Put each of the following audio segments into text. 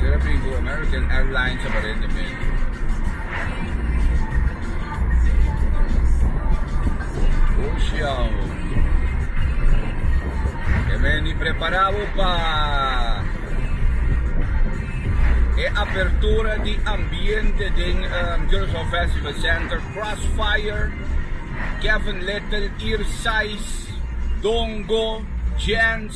Sera bin ku American Airlines ta bada rendimentu. Ocean ho. E meni prepara bo pa e apertura di ambiente den Curaçao Festival Center. Crossfire, Kevin Lyttle, Ear Size, Dongo, Jens.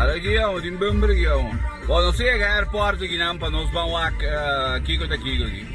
Ada ki awor tin bumber aki awor. Bo nos ta yega airport aki nan pa nos ban wak kiko ta kiko aki.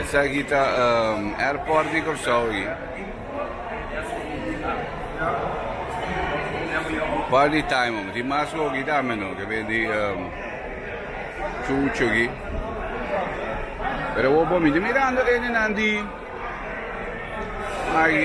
Esaki ta airport di Kòrsou aki. Un par di time omi tin mas hogi tambe no ke bende chuchu aki. Pero awor por mi tin mirando enenan di aki.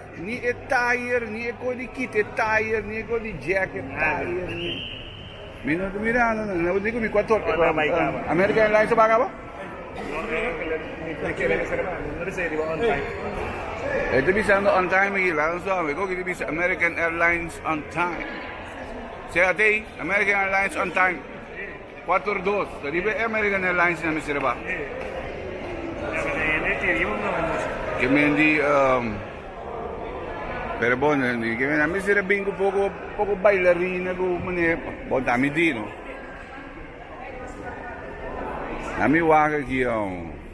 Ni e tire ni e cos di kita e tire ni e cos di jack e tire ni. Mi no ta mirando nan no dico mi cuator American Airlines a baga bo? E ta bisando on time aki laga un sohome koki ta bisa American Airlines on time. Sega tei American Airlines on time. Quator dos, ta riba e American Airlines na mester a baha. Ke men di ehm, pero bon, a mester a bin ku poko, poko bailarina ku mane, bon ta mi di no. Na mi wak aki ehm.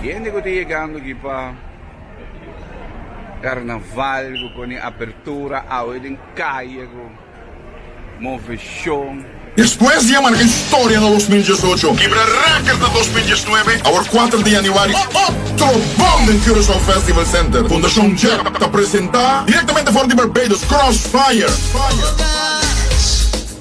Ki hende ku ta yegando aki pa karnaval ku pone apertura awe den kaye ku move shon. Despues di a marka historia na dos mil diesocho, kibra rèkèrt na dos mil diesnuebe, awor kuater di yanüari otro bom den Curaçao Festival Center. Fundashon JEP ta presentá direktamente for di Barbados, Crossfire.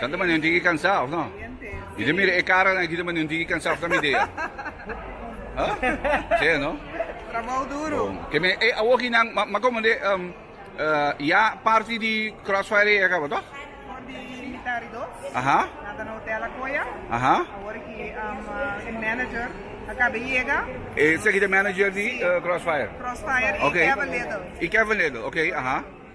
Tanta mane un tiki kansa of no? Mi ta mira e karanan aki ta mane un tiki kansa of ta mi idea? Ha? Sí no? Trabou duru. Bon. Ke me e awor aki nan ma komo de um, uh, ya parti di Crossfire ya kaba toch? Por di militari dos. Aha. Na ta na hotel Akoya. Aha. Awor aki um, uh, e manager acaba llega. E seki de manager di uh, Crossfire. Crossfire Okay. y Kevin Little. I Kevin Little, okay, aha.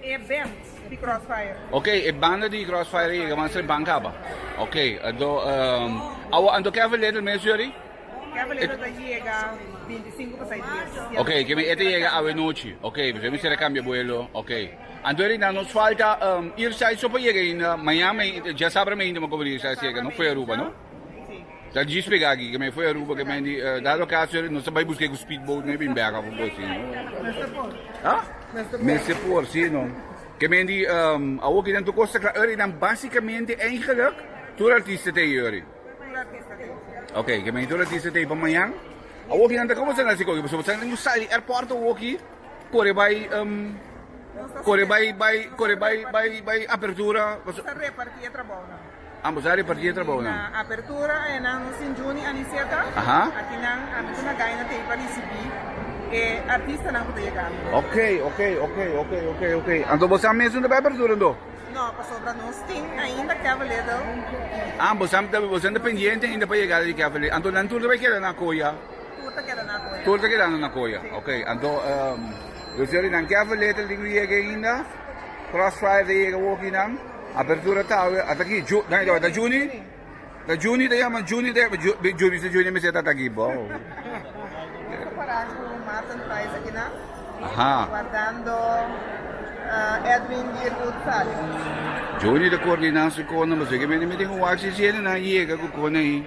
E band di Crossfire. Ok, e banda di Crossfire a yega man sre ban kaba. Ok, ado um, awa anto Kevin Little mes yori? Kevin Little ta yega 25 pasai dies. Ok, ke mi ete yega awe nochi. Ok, pues mi sere kambia buelo. Ok. Anto eri na nos falta um, Irsai so pa yega inda Miami, ja sabra me inda mo komo Irsai si yega, no fue Aruba, no? Ta djis pega aki, kemei foi Aruba, kemei di dado caso ere, nos ta bai busca e cu speedboat mei bin bega fu boso. Mester por. Ha? Mester por, si no. Kemei di awo ki den tur costa cla ere dan basicamente eigenlijk tur artista ta ei ere. Tur artista ta ei. Ok, kemei tur artista ta ei pa mañan. Awo ki nan ta comenzando haci coge, pasobra sa den cu sai di airport awo ki core bai core bai bai core bai bai bai apertura. Nos ta reparti e trabao nan. Ambo sa reparti e trabou nan. Na apertura e nan nos tin Juni Aniceta. Aki nan a mete una gaina tei pa ricibi e artistanan cu ta yega aki. Ok, ok, ok, ok, ok, ok. Anto bo sa mes un ta bay apertura anto? No, pasobra nos tin ainda Kevin Little y. Ah, bo sa bo sa ta pendiente ainda pa yegada di Kevin Little. Anto nan tur ta bay keda na Coya? Tur ta keda na Coya. Tur ta kedando na Coya. Si. Ok, anto um, yo ser di nan Kevin Little tin no yega ainda, Crossfire ta yega woki nan. Apertura ta awe ata aki nan e ta wanta Juni ta Juni ta yama Juni ta yama Juni Juni Mister Juni mester ta ata aki bou. Compara cu Mart and Price aki nan guardando Edwin di Ruth Palley. Juni ta coordina su conan pasobra ki mi tin un wak si si e nan yega cu conan ahi.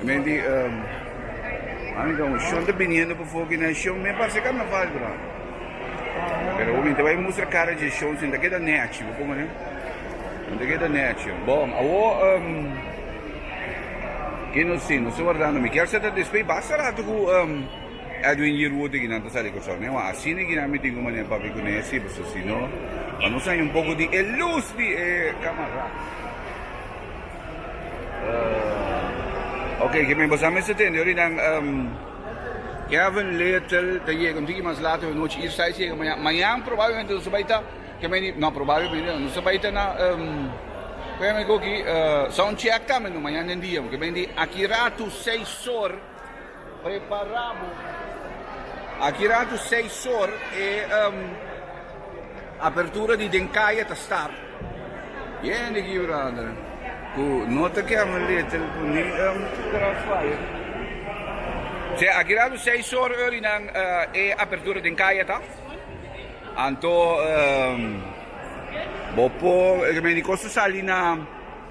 Mi di, Ami ta un shon ta biniendo pa foki na e shon, mi a parse karnaval bra. Pero bo mi ta bai mustra cara dje shon sin ta keda nèchi, bo komo ne? Sin ta keda nèchi. Bo, awo ke nos tin? Nos ta wardando. Mi kier sa ta despei basta ratu ku Edwin Yearwood i kinan ta sali Kòrsou. Mi a wak asina i kinan mi tin ku manera pa bai kuné si paso si no pa nos haña un poko di e lus di e kamará. Oke, ke mi bo sa mester tende orinan. Kevin Lyttle ta yega un tiki mas lato e nochi. Isa Saiz yega mañan. Mañan probablmente nos ta bai ta, ke mi a di, no, probablmente no, nos ta bai ta na, ku e mi a goki, soundcheck tambe, no, mañan den dia, ke mi a di, aki rato seis or. Prepará bo. Aki ratu seis or e apertura di den kaya ta start. Bien di Quebrada cu no ta kier na lete cu ni Grass Fire. Sea, aki ratu seis or e ori nan e apertura den kaya ta. Anto bo por remedi cosa sali na.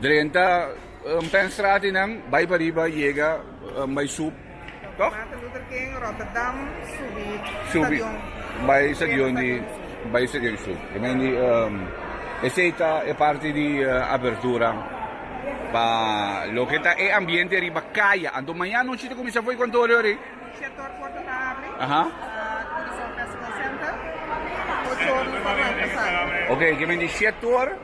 Drenta un pèn straat i nan bai pariba yega un bai sup, tòg? Martin Luther King, Rotterdam, subi stadion. Bai stadion di bai stadion di sup. E mende esei ta e parti di abertura pa loke ta e ambiente riba kaya. Anto maña anochi ta kuminsá for e kontorio ri. Shèt or porta ta abri. Turismo Festival Center. Ocho or nos ta arranka sali. Oke, ke mende shèt or.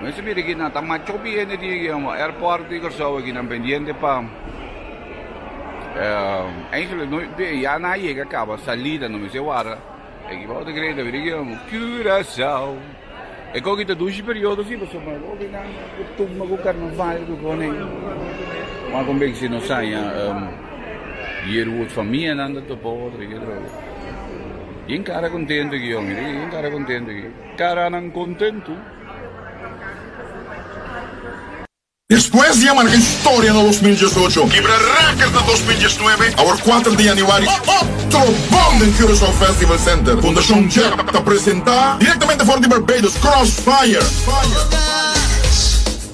Mester mira aquí, na ta macho biene di airport di Curaçao aquí, nan pendiente pa Eindhoven, no e ya na yega caba salida no mester wara, aquí bo ta cree ta mira aquí amo Curaçao, e con aki ta dushi periodo si pasobra nan bo ta nan cutuma cu carnaval cu cona ey, mas con beki si no saya Yearwood fa mia nan ta topa otro aquí atrobe, bien cara contento aquí ho mira aquí bien cara contento aquí. Caranan contentu. Despues di a marca historia na dos mil diesocho, kibra record na dos mil diesnuebe, awor kuater di januari, otro bom den Curaçao Festival Center, Fundacion Jeb ta presenta, directamente for di Barbados, Crossfire.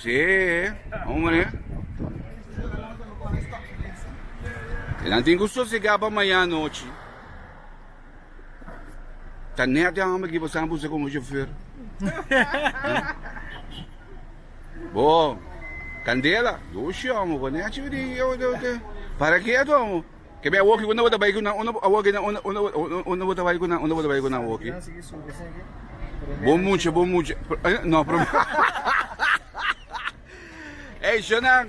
Se hombre nan tin ku sosega pa maña anochi ta net e hombre aki pasanan buska komo shofer bo Candela yo shon amo ku nèt chibidi para ke atu amo Ke be awoki ku no bo ta bai ku nan? Unda awoki nan? Unda bo ta bai ku nan? Unda bo ta bai ku nan awoki? Bo mucha, bo mucha, no Ey shonnan,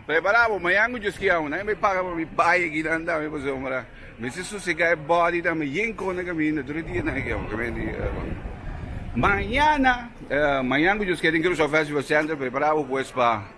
prepara bo, mañan ku djoski amo nan, mi paga pa mi bai aki nan ta, mi pasobra mora. Mi si sosega e body ta, mi yen kona kaminda tur e dia nan aki amo, primer dia. Mañana, mañan ku djoski, den Curaçao Festival Center, prepara bo pues pa.